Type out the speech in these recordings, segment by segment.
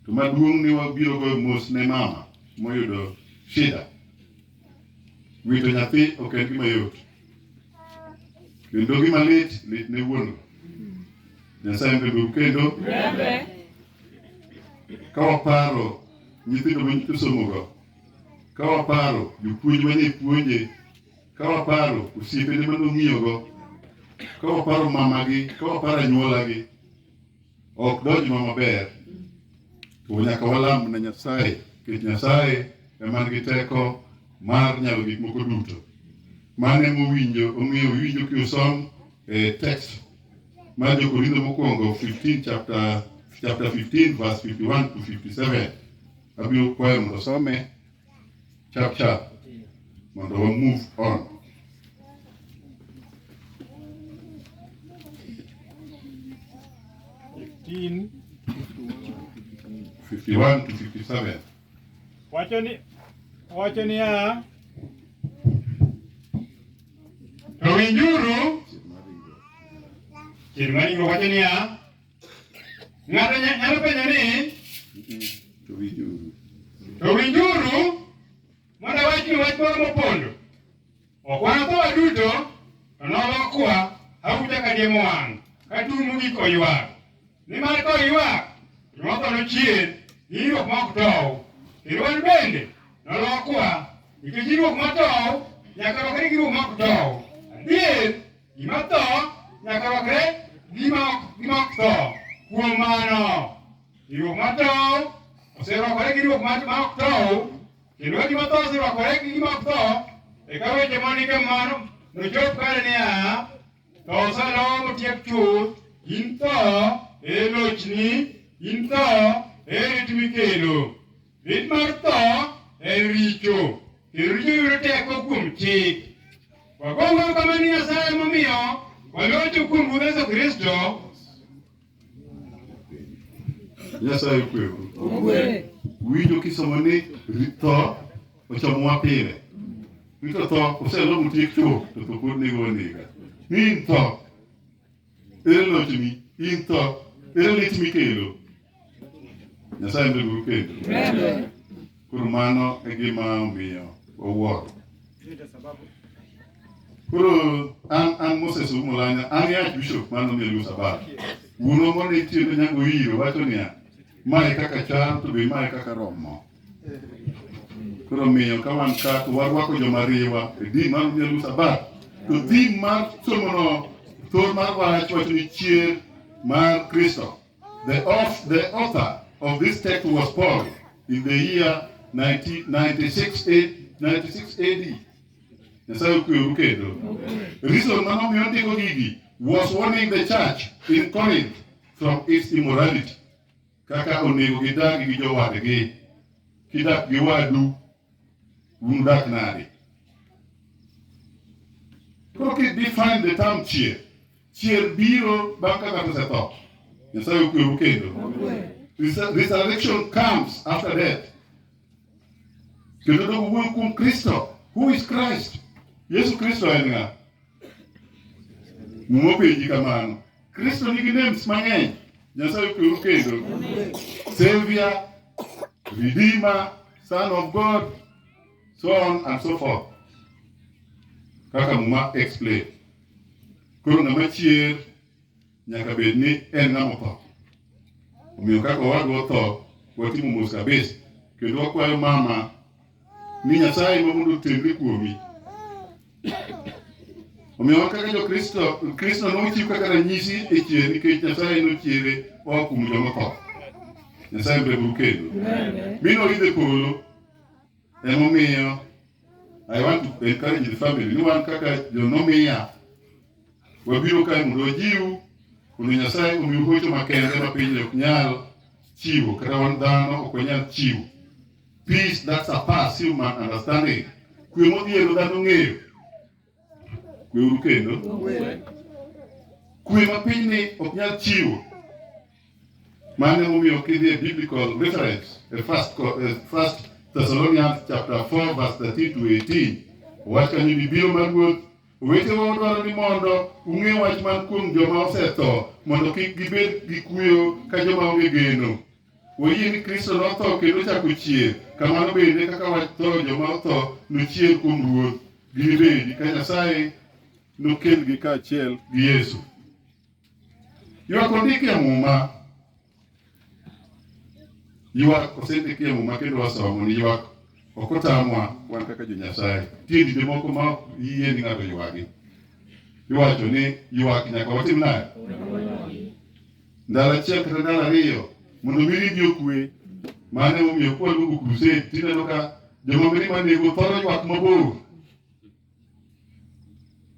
To maduong' ni wabiro goyo mos ne mama moyudo shida. Wito nyathi ok en gima yot. Kendo gima lit lit ne wuon. Nyasaye mbebe kendo ka waparo nyithindo ma nyithindo somogo, ka waparo jopuonj ma ne puonje, ka waparo osiepene ma nong'iyogo, ka waparo mamagi, ka waparo anyuolagi, ok donjnwa maber to nyaka walam na Nyasaye nikech Nyasaye ema nigi teko mar nyalo gik moko duto. Mane mowinjo ong'eyo winjo kiusom e eh, text mar Jokorintho mokwongo 15 chapter chapter 15 verse 51 to 57 abiro kwayo mondo some chap chap mondo wa move on. Fifteen. 51 to 57. Wacho ni wacho niya, To winjuru, chieng' maringo wacho niya, Ng'ato nyalo penjo ni to winjuru, to winjuru mondo awachnu wach moro mopondo. Ok wanatho waduto, to nolokwa auta ka diemo wang' ka tung' mogik oywak. Nimar ka oywak, joma tho nochier gi ywak ma ok tow, kendo wan bende nolokwa nikech ywak ma tow nyaka lokre gi ywak ma ok tow. Adier Gima tho nyaka rwakre gima ok tho. Kuom mano, riwruok mar tho oserwakore gi riwruok mar ma ok tho, kendo ka gima tho oserwakore gi gima ok tho, eka weche mondik e mano nochop kare niya, tho osalo motiek chuth, in tho, e lochni, in tho, e rit mikelo. Rit mar tho en richo, kendo richo yudo teko kuom chik. Wagongo kama ni Nyasaye momiyo walocho kuom Ruoth Yesu Kristo. Nyasaye okwewu. Winjo kisomo ni rit tho ochomowa pile. Rito tho oselomo tiek chuth to tho pod nego wanega. Min tho Ere lochni in tho? Ere lit mikelo? Nyasaye en uru kendo. Koro mano e gima omiyo wawuoro. Koro an an Moses Umulanya, an e Archbishop mar Nandi Luo Sabato. Wuonwa mane tiyo ne nyango iro wacho niya, mae kaka chal to be mae kaka romo. Koro omiyo ka wan ka to warwako joma riwa e din mar nyalu sabat to din mar somono thor mar wach wacho ni chier mar Kristo. The, auth- the author of this text was Paul in the year 1996 A- 96 AD. Nyasaye okweru kendo. Reason ma nomiyo ndiko gigi was warning the church in Corinth from its immorality. kaka onego gidag gi jowadgi, kidak gi wadu, unudak nade? Koro ki define the term chier, chier biro bang' ka ng'ato osetho. Nyasaye okweru kendo. Resur- Resurrection comes after death. Kendo dogo wuoyo kuom Kristo. Who is Christ? Yesu Kristo en ng'a? Muma openji kamano. Kristo nigi names mang'eny. Nyasaye okweru kendo. Savior, Redeemer, Son of God, so on and so forth. Kaka muma explain. Koro ng'ama chier nyaka bed ni en ng'ama otho. Omiyo kaka owadwa otho, watimo mos kabisa. Kendo wakwayo mama ni Nyasaye ma mondo otemre kuomi. Omiyo wan kaka Jokristo, Kristo nochiw kaka ranyisi e chier nikech Nyasaye nochiere oa kuom joma tho. Nyasaye mbegu kendo. Mi noidhe polo. Emomiyo I want to encourage the family ni wan kaka jonomiya wabiro kae mondo wajiwu mondo Nyasaye omiu hocho makende ma piny ok nyal chiwo kata wan dhano ok wanyal chiwo. Peace that surpass human understanding. Kwe modhiero dhano ng'eyo. Kwe uru kendo. Kwe ma pinyni ok nyal chiwo. Mano emomiyo kidhi e biblical reference e first, Co- eh, first Thessalonians chapter 4 verse 13 to 18 wach kanyo ni biro mar ruoth owetewa wadwaro ni mondo ung'e wach man kuom joma osetho mondo kik gibed gi kuyo ka joma onge geno Wayie ni Kristo notho kendo ochako chier, kamano bende kaka watho joma otho nochier kuom Ruoth, ginibedi ka Nyasaye nokelgi kaachiel gi Yesu. Ywak ondiki e Muma. Ywak osendiki e Muma kendo wasomo ni ywak ok otamwa wan kaka jo-Nyasaye. Nitie dinde moko ma ok yie ni ng'ato ywagi. Iwacho ni ywak nyaka watim nade? ndalo achiel kata ndalo ariyo mondo mi ribi okwe. Mano emomiyo kwa luongo crusade tineno ka joma mine manego thoro ywak mabor.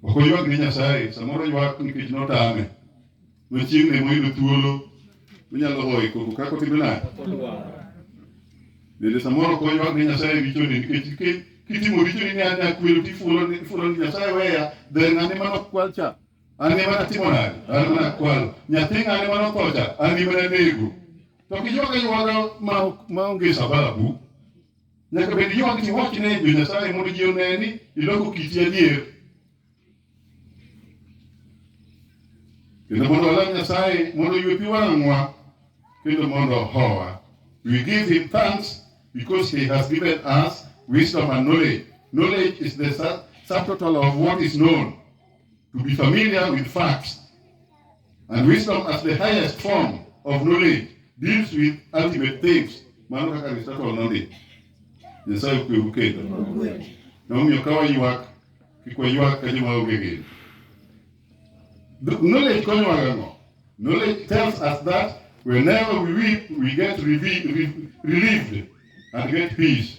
Ok oywak ne Nyasaye, samoro oywak nikech notame. Machieng' ne moyudo thuolo onyalo hoyo koko kaka otimo nade. Bende samoro ok oywak ne Nyasaye richoni nikech ki- kitimo richoni ni an akwelo tifulo ni- ifulo ni Nyasaye weya, dher ng'ane mano kwal cha. An ema natimo nade? An ema nakwalo. Nyathi ng'ane ma nothocha, an ema nanego. To kiywak aywaka ma ma onge sababu. Nyaka bed ywak ni wach ne jo Nyasaye mondo ji one ni iloko kiti adier. Kendo mondo walam Nyasaye mondo oywe pi wang'wa kendo mondo ohowa. We give him thanks because he has given us wisdom and knowledge. Knowledge is the sub- subtotal of what is known. to be familiar with facts. And wisdom as the highest form of knowledge deals with ultimate things. Mano kaka Aristotle nondiko. Nyasaye okwewu kendo. Nomiyo ka waywak, kik waywak ka joma onge geno. The Knowledge konyowa gang'o? Knowledge tells us that whenever we weep, we get revi- re- relieved and get peace.